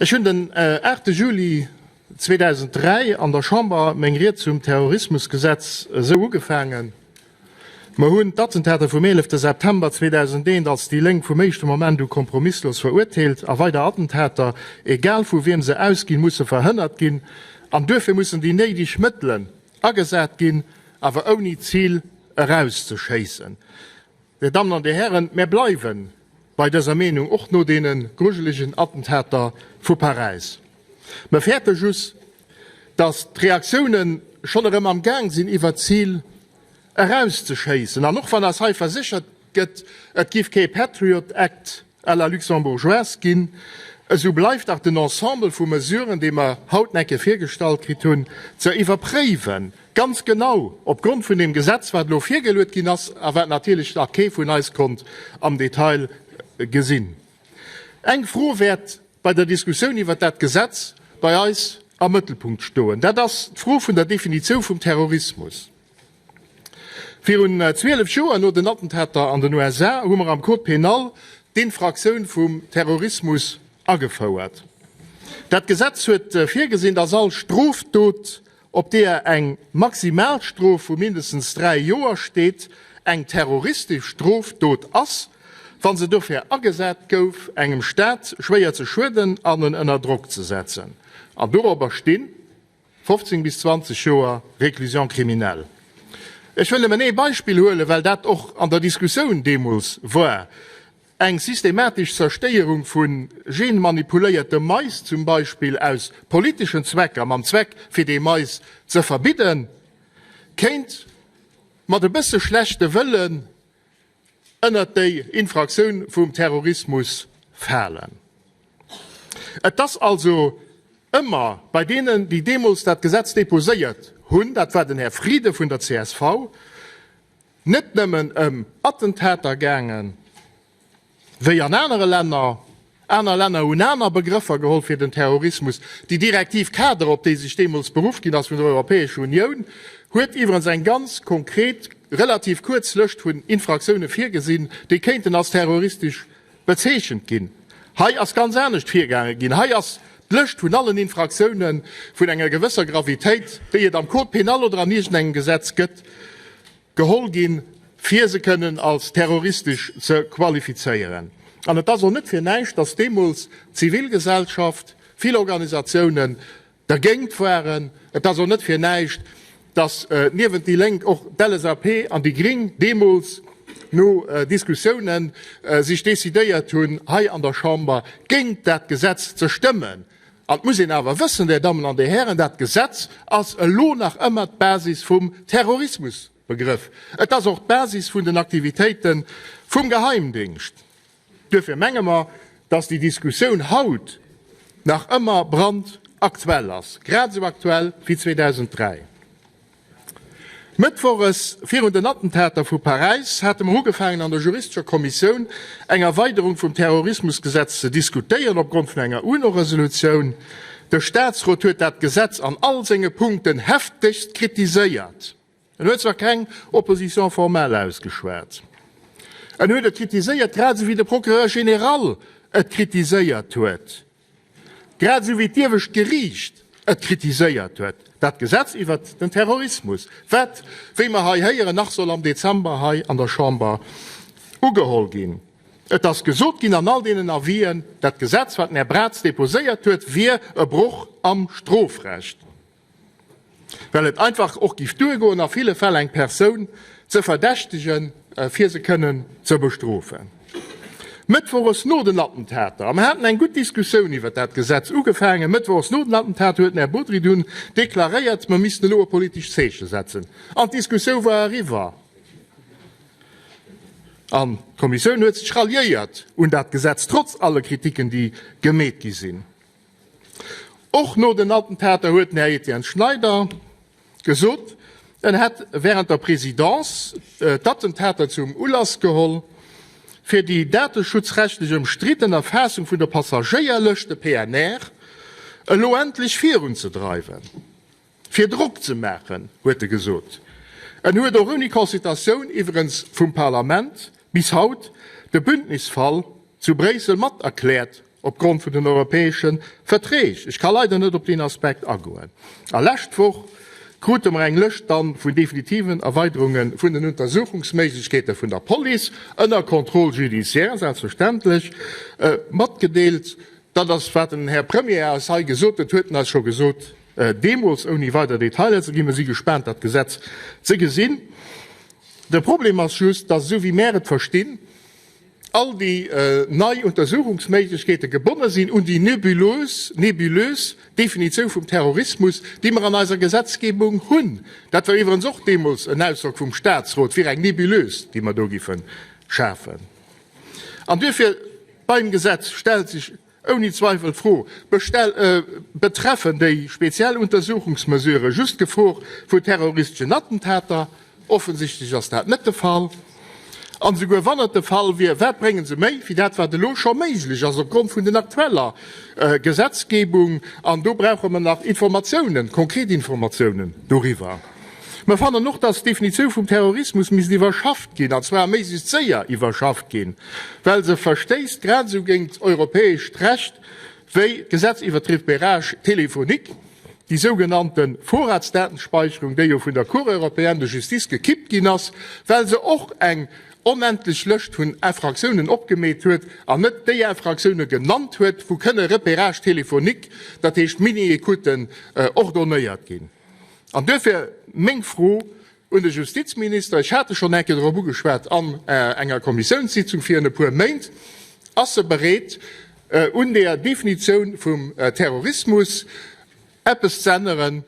Ech hunn den aachte Juli 2003 an der Chamber meng Ried zum Terrorismusgesetz esou ugefaangen, Mer hunn d'Attentater vum 11 September 2001 als déi Lénk vum éischte Moment u kompromisslos verurteelt a weider Attentater, egal vu wiem se ausginn, musse verhënnert ginn an duerfir mussen déi néideg Mëttelen agesat ginn, awer ouni d'Zil erauszeschéissen. Dir Dammen an Dir Hären, mär bleiwe bei dëser Meenung och no deene grujelegen Attentater vu Paräis. Mär fäerte just, datt d'Reaktioune schonn erëm am Gaang sinn iwwert d'Zil eraus ze schéissen, an och wann eis hei verséchert gëtt, et giff kee Patriot Act, à la luxembourgeoise ginn, esou bleift dach den Ensemble vu Mesuren, dee mer haut necke virgestallt kritt hunn, ze iwwerpréiwen, ganz genau opgrond vun deem Gesetz, wat elo virgeluet ginn ass a wat natierlech nach kee vun eis konnt am Detail gesinn. Eng Fro wäert bei der Diskussioun iwwert dat Gesetz bei eis am Mëttelpunkt stoen, dat ass d'Fro vun der Definitioun vum Terrorismus. Virun 12 Joer, no den Attentater an den USA, hu mer am Code pénal d'Infraktioun vum Terrorismus agefouert. Dat Gesetz huet virgesinn, dass all Strofdot, op deeër eng Maximalstrof vu mindestens dräi Joer steet, eng terroristesch Strofdot ass, wa se dofir agesat gouf, engem Stat schwéier ze schueden an en ënner Drock ze setzen. An dorobber stinn. 15 bis 20 Joer Réclusion criminelle. Ech wëll nëmmen ee Beispill huelen, well dat och an der Diskussioun deemools war, eng systematesch Zerstéierung vu genmanipuléierte Mais zum Beispill aus politeschen Zwecker, mam Zweck fir dee Mais ze verbidden, kéint mat e bësse schlechte Wëllen, ënnert déi Infraktioun vum Terrorismus falen. Et ass also ëmmer bei deenen, déi deemools dat Gesetz déposéiert hunn, dat war den Här Frieden vun der csv, net nëmmen ëm Attentater gaangen, wéi an anere Länner, Aner Länner hunn aner Begrëffer geholl fir den Terrorismus. Déi Direktiv-Cadre, op déi sech deemools beruff ginn ass vun der Europäescher Unioun, huet iwwerens eng ganz konkret, relativ kuerz Lëscht vun Infraktioune virgesinn, déi kéinten als terroristesch bezeechent ginn. Hei ass ganz anescht virgaange ginn. Hei ass d'Lëscht vun allen Infraktioune vun enger gewësser Gravitéit, déi et am Code pénal oder an iergendengem Gesetz gëtt, Geholl ginn, fir se kënnen als terroristesch ze qualifizéieren. An et ass och net fir näischt, dass deemools d'Zivilgesellschaft, vill Organisatiounen dergéint waren. Et ass och net fir näischt, dass niewent déi Lénk och d'LSAP an déi Gring deemools no Diskussiounen sech decidéiert hunn, hei an der Chamber géint dat Gesetz ze stëmmen. An et muss een awer wëssen, Där Dammen an Där Hären, dat Gesetz ass elo nach ëmmer d'Basis vum Terrorismusbegrëff. Et ass och d'Basis vun den Aktivitéite vum Geheimdéngscht. Duerfir menge mer, dass déi Diskussioun haut nach ëmmer brandaktuell ass, grad esou aktuell wéi 2003. Mëttwoches, virun den Attentater vu Paräis, hate mer ugefaangen an der juristescher Kommissioun eng Erweiderung vum Terrorismusgesetz ze diskutéieren opgrond vun enger UNO-Resolutioun. De Statsrot huet dat Gesetz an all senge Punkten heftegst kritiséiert. En huet zwar keng Opposition formelle ausgeschwat, en huet et kritiséiert, grad esou wéi de Procureur général et kritiséiert huet. Grad esou wéi d'Iewescht Geriicht et kritiséiert huet, dat Gesetz iwwert den Terrorismus, wat, wéi mer hei héieren, nach soll am Dezember hei an der Chamber ugeholl ginn. Et ass gesot ginn an all deenen Avisen, dat Gesetz, wat den Här Braz deposéiert huet, wier e Broch am Strofrecht. well et einfach och giff duergoen a ville Fäll eng Persoun ze verdächtegen fir se kënnen ze bestrofen. Mëttwoches no den Attentater, a mer haten eng gutt Diskussioun iwwert dat Gesetz ugefaangen, Mëttwoches no den Attentater huet den Här Bodry dunn deklaréiert, mer missten elo e politescht Zeeche setzen an d'Diskussioun war eriwwer an d'Kommissioun huet sech ralliéiert un dat Gesetz, trotz alle Kritiken déi gemeet gi sinn. Och no den Attentater huet den Här Etienne Schneider gesot, en hätt wärend der Presidence d'Attentater zum Ulass geholl, fir déi dateschutzrechtlech ëmstridden Erfaassung vun der Passagéierlëscht, de PNR, elo endlech virunzedreiwen. Fir Drock ze maachen, huet e gesot. En huet och ouni Consultatioun iwwerens vum Parlament bis haut de Bündnisfall zu Bréissel mat erkläert opgrond vun den europäesche Verträg. Ech ka leider net op deen Aspekt agoen. A lescht Woch krute mer eng Lëscht dann vun definitiven Erweiderunge vun den Untersuchungsméiglechkeete vun der Police, ënner Contrôle judiciaire selbstverständlech, matgedeelt. Dat ass wat den Här Premier eis hei gesot huet, huet en eis scho gesot. Deemools, ouni weider Detailer ze ginn, mir si gespaant, dat Gesetz ze gesinn. De Problem ass just, dass, esou wéi mär et verstinn, all déi nei Untersuchungsméiglechkeete gebonne sinn un déi nebulös, nébulös, Definitioun vum Terrorismus, déi mer an eiser Gesetzgebung hunn. Dat war iwwerens och deemools en Ausdrock vum Statsrot fir eng Nebulös, déi mer do géife schafen. An duerfir, beim Gesetz stellt sech, Ouni Zweifel d'Fro, Betreffen déi speziell Untersuchungsmesurë just d'Gefor vu terroristeschen Attentater? Offensichtlech ass dat net de Fall. An esouguer wann et de Fall wier, wat bréngen se méi wéi dat wat elo scho méiglech ass opgrond vun den aktueller Gesetzgebung? An do brauche mer nach Informatiounen, konkret Informatiounen doriwwer. Mer fannen och, dass d'Definitiou vum Terrorismus misst iwwerschafft ginn, an zwar méiglechst séier iwwerschafft ginn, well se verstéisst grad esou géingt d'europäescht Recht wéi d'Gesetz iwwert d'Repérage téléphonique, déi sougenannte Vorratsdatenspeicherung, déi jo vun der Cour européenne de justice gekippt ginn ass, well se och eng onendlech Lëscht vun Infractiounen opgemeet huet an net déi Infractiounen genannt huet, wou kënne Repérages téléphoniques, dat heescht Mini-Écouten, ordonnéiert ginn. An duerfir meng Fro un de Justizminister, ech hat e schonn eng Kéier dorop ugeschwat an enger Kommissiounssitzung virun e puer Méint, Ass e bereet, un der Definitioun vum Terrorismus eppes z'änneren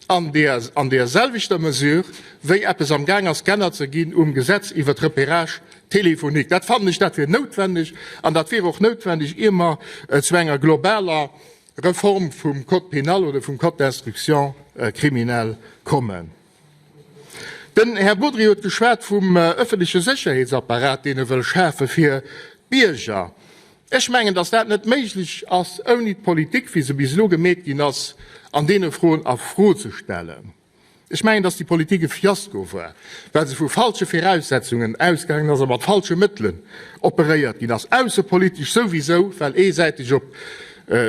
an deerselwechter Mesure, wéi eppes amgaang ass geännert ze ginn um Gesetz iwwert d'Repérage téléphonique? Dat fannen ech, dat wier noutwendeg, an dat wier och noutwendeg, ier mer zu enger globaler Reform vum Code pénal oder vum Code d'instruction criminelle kommen. Den Här Bodry huet geschwat vum öffentliche Sécherheetsapparat, deen e wëll schafe fir d'Bierger. Ech mengen, dass dat net méiglech ass, ouni d'Politik, wéi se bis elo gemeet ginn ass, an deene Froen a Fro ze stellen. Ech mengen, dass déi Politik e Fiasko war, well se vu falsche Viraussetzungen ausgaangen ass a mat falsche Mëttelen operéiert ginn ass, aussepolitesch souwisou, well eesäiteg op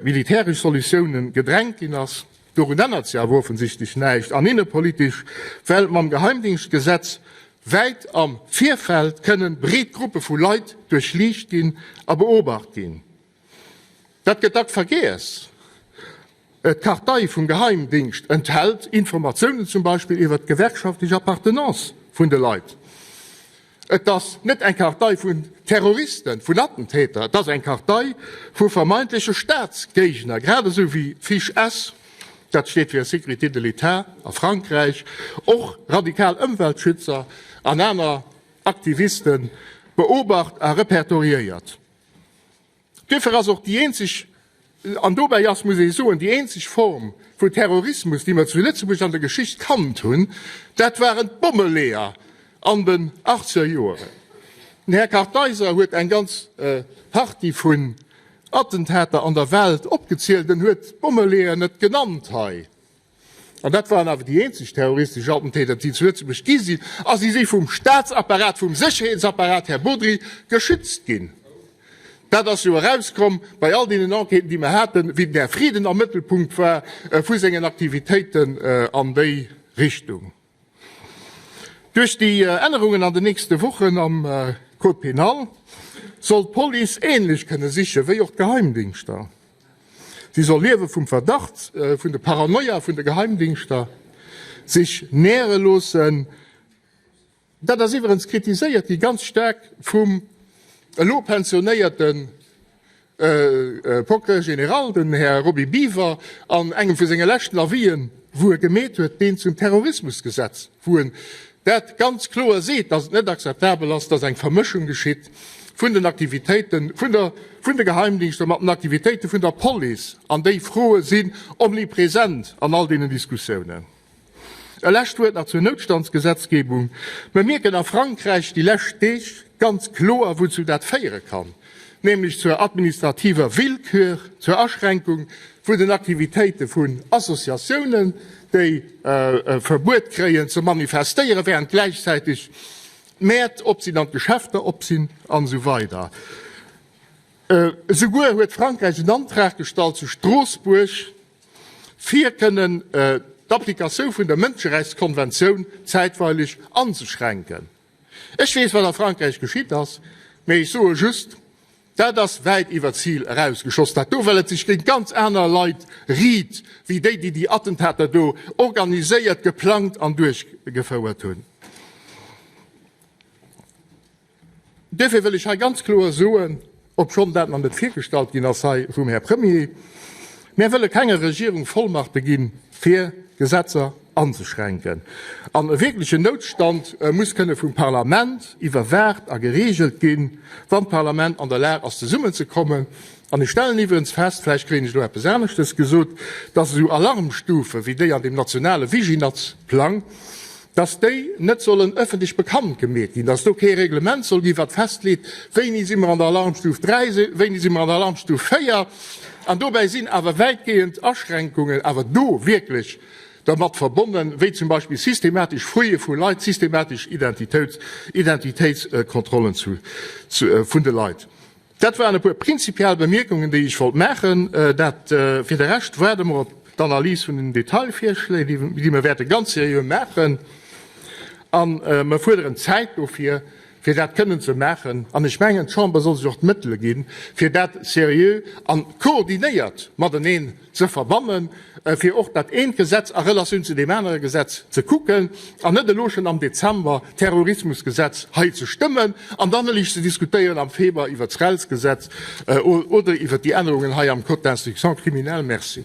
militäresch Solutiounen gedrängt ginn ass, dorun ännert se awer offensichtlech näischt, an innepolitesch, well mam Geheimdingschtgesetz wäit am Virfeld kënnen breet Gruppe vu Leit duerchliicht ginn a beobacht ginn. Dat gëtt dacks vergiess. D'Kartei vum Geheimdingscht enthält Informatiounen zum Beispill iwwer d'gewerkschaftlech Appartenance vun de Leit. Et ass net eng Kartei vun Terroristen, vun Attentäter, et ass eng Kartei vu vermeintleche Staatsgéigner, grad esou wéi d'Fiche S, dat steet fir Sécurité de l'État a Frankräich, och radikal Ëmweltschützer an aner Aktiviste beobacht a repertoriéiert. Duerfir ass och déi eenzeg, an dobäi ass, muss ee soen, déi eenzeg Form vu Terrorismus, déi mer zu Lëtzebuerg an der Geschicht kannt hunn, dat waren d'Bommeleeër an den achtzeger Joeren. Den Här Kartheiser huet eng ganz Partie vun Attentater an der Welt opgezielt, en huet d'Bommeleeër net genannt hei. an dat waren awer déi eenzeg terroristesch Attentäter, déi zu Lëtzebuerg gi sinn, a si si vum Staatsapparat, vum Sécherheetsapparat, Här Bodry, geschützt ginn. Dat ass jo erauskomm bei all deenen Enquêten, déi mer haten, wien den Här Frieden am Mëttelpunkt war vu sengen Aktivitéiten an déi Richtung. Duerch déi Ännerungen an den nächste Wochen am Code pénal soll d'Police änlech kënne siche wéi och d'Geheimdingschter. Si soll Liewe vum Verdacht, vun de Paranoia vun de Geheimdingschter sech näre loossen. Dat ass iwwerengs kritiséiert gi ganz staark vum elo pensionéierte Procureur général, den Här Roby Biever, an engem vu senge leschten Avisen, wou e gemeet huet, deen zum Terrorismusgesetz, wou en dat ganz kloer seet, dass et net akzeptabel ass, dass eng Vermëschung geschitt vun den Aktivitéite vun de Geheimdienster mat den Aktivitéite vun der Police, an déi Froe sinn omnipresent an all deenen Diskussiounen. E lescht Wuert nach zur Noutstandsgesetzgebung. Mer mierken a Frankräich déi lescht Deeg ganz kloer, wouzu dat féiere kann, nämlech zur administrativer Willkür, zur Aschränkung vun den Aktivitéite vun Associatiounen, déi e Verbuet kréien ze manifestéieren, während gläichzäiteg d'Mäert op sinn an d'Geschäfter op sinn an esou weider. Esouguer huet Frankräich en Antrag gestallt zu Stroossbuerg, fir kënnen d'Applikatioun vun der Mënscherechtskonventioun zäitweileg anzeschränken. Ech weess, wat a Frankräich geschitt ass, mä ech soe just, Dat ass wäit iwwer d'Zil erausgeschoss, dat do, well et sech géint ganz aner Leit riit wéi déi, déi déi Attentater do organiséiert, geplangt an duerchgefouert hunn. Duerfir wëll ech hei ganz kloer soen, obschonn dat nach net virgestallt ginn ass hei vum Här Premier, Mär wëlle kenger Regierung Vollmachte gi fir Gesetzer anzeschränken. An e wierklechen Noutstand muss kënne vum Parlament iwwerwaacht a gereegelt ginn, wann d'Parlament an der Lag ass zesummenzekommen, An ech stellen iwwerens fest, vläicht kréien ech elo eppes aneschtes gesot, dass esou Alarmstufe wéi déi an deem nationale Viginazplang, dass déi net sollen öffentlech bekannt gemeet ginn, dass do kee Reglement soll ginn, wat festleet, wéini si mer an der Alarmstuf 3 sinn, wéini si mer an der Alarmstuf 4. An dobäi sinn awer wäitgehend Aschränkungen awer do wierklech dermat verbonnen, wéi zum Beispill systematesch Fouille vu Leit, systematesch Identitéitskontrollen vun de Leit. Dat waren e puer prinzipiell Bemierkungen, déi ech wollt maachen. Dat fir de Rescht waarde mer op d'Analys vun den Detailvirschléi, déi mer wäerte ganz seriö maachen. A mer fuerderen Zäit dofir, fir dat kënnen ze maachen. An ech mengen, d'Chamber soll sech och d'Mëttele ginn, fir dat seriö a koordinéiert mateneen ze verbannen, fir och dat eent Gesetz a Relatioun zu deem anere Gesetz ze kucken an net elo schonn am Dezember d'Terrorismusgesetz hei ze stëmmen an dann ueleg ze diskutéieren am Febrer iwwert d'RELS-Gesetz oder iwwert déi Ännerungen hei am Code d'instruction criminelle. Merci.